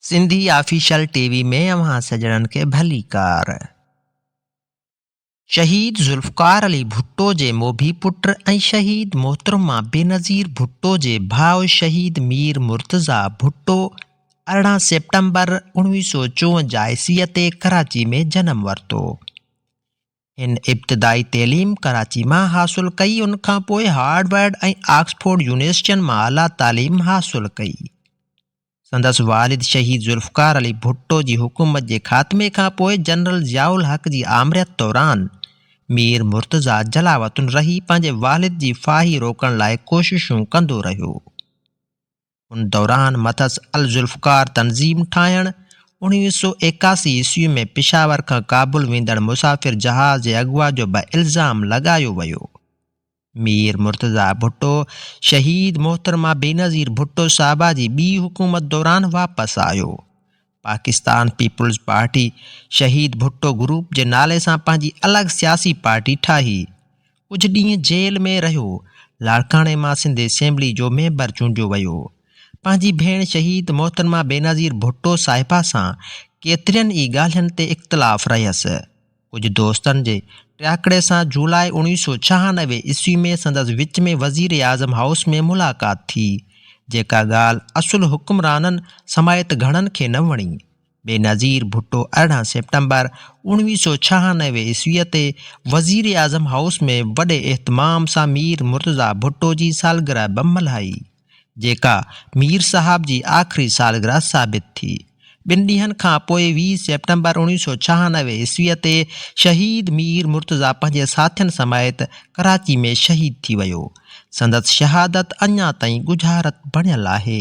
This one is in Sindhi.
سنڌي آفيشل ٽي وي ۾ اوهان سڄڻن کي ڀليڪار. شهيد ذوالفقار علي ڀٽو جي موڀي پٽ ۽ شهيد محترمه بينظير ڀٽو جي ڀاء شهيد مير مرتضيٰ ڀٽو ارڙهن سيپٽمبر اوڻويهه سؤ چونجاهه عيسويء تي ڪراچي ۾ جنم ورتو. هن ابتدائي تعليم ڪراچي مان حاصل ڪئي، ان کان پوء هارورڊ ۽ آڪسفورڊ يونيورسٽين مان اعليٰ تعليم حاصل ڪئي. سندس والد شهيد ذوالفقار علي ڀٽو جي حڪومت جي خاتمي کان پوء جنرل ضياء الحق جي آمريت دوران مير مرتضيٰ جلاوطن رهي پنهنجي والد جي ڦاهي روڪڻ لاء ڪوششون ڪندو رهيو. ان دوران مٿس الذوالفقار تنظيم ٺاهڻ، اڻويهه سؤ ايڪاسي عيسوي ۾ پشاور کان ڪابل ويندڙ مسافر جهاز جي اغوا جو به الزام لڳايو ويو. مير مرتضيٰ ڀٽو شهيد محترمه بينظير ڀٽو صاحبه جي ٻي حڪومت دوران واپس آيو. پاڪستان پيپلز پارٽي شهيد ڀٽو گروپ جي نالي سان پنهنجي الڳ سياسي پارٽي ٺاهي. ڪجهه ڏينهن جيل ۾ رهيو. لاڙڪاڻي مان سنڌ اسيمبلي جو ميمبر چونڊيو ويو. پنهنجي ڀيڻ شهيد محترمه بينظير ڀٽو صاحبه سان ڪيترين ئي ڳالهين تي اختلاف رهيس. ڪجهه دوستن جي ٽياڪڙي سان جولاء اوڻويهه سؤ ڇهانوي عيسوي ۾ سندس وچ ۾ وزيراعظم هائوس ۾ ملاقات ٿي، جيڪا ڳالهه اصل حڪمرانن سميت گهڻن کي نه وڻي. بينظير ڀٽو ارڙهن سيپٽمبر اوڻويهه سؤ ڇهانوي عيسوي تي وزيراعظم هائوس ۾ وڏي اهتمام سان مير مرتضيٰ ڀٽو جي سالگرهه به ملهائي. جيڪا مير صاحب جي آخري سالگرهه ثابت ٿي. ٻن ڏينهن کان پوء ويهه سيپٽمبر اڻويهه سؤ ڇهانوي عيسويء تي شهيد مير مرتضيٰ پنهنجي ساٿين سميت ڪراچي ۾ شهيد ٿي ويو. سندس شهادت اڃا تائين ڳجهارت بڻيل آهي.